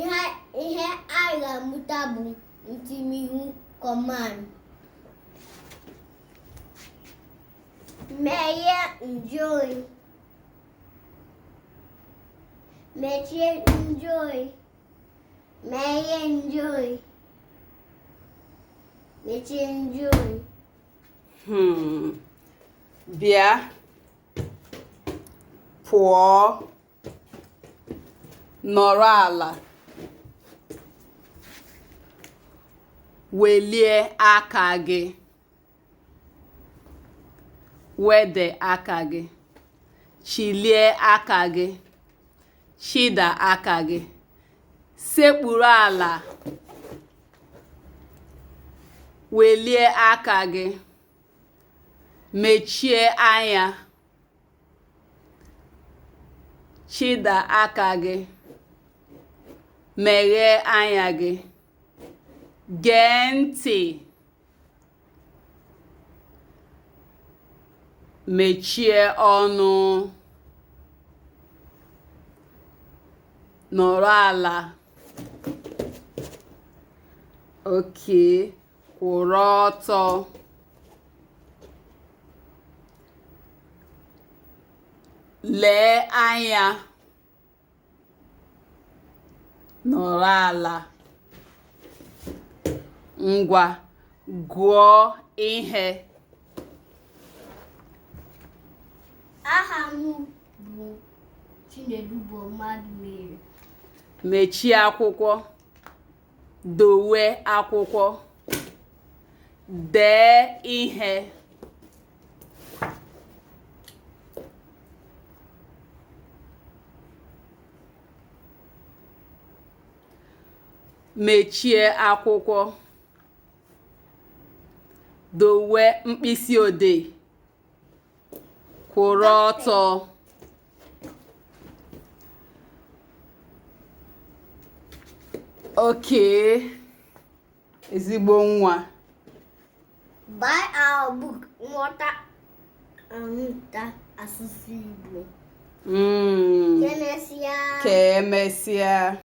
ihe ihe anyị ga-amụta bụ ntimiwu command meghe njụoyi mechie njụoyi meghe njụoyi mechie njụoyi hmm. bịa pụọ nọrọ ala welie aka gị wede aka gị chilie aka gị chịda aka gị sekpuru ala welie aka gị mechie anya chịda aka gị meghee anya gị gee ntị mechie ọnụ nọrọ ala okay kwụrụ ọtọ lee anya nọrọ ala ngwa gụọ ihe aha m bụ Chinedu bụ mmadụ mere mechie akwụkwọ dowe akwụkwọ dee ihe mechie akwụkwọ dowe mkpịsị odee kwụrụ ọtọ okay ezigbo nwa buy our book nghọta amụta asụsụ Igbo mm. ka emesịa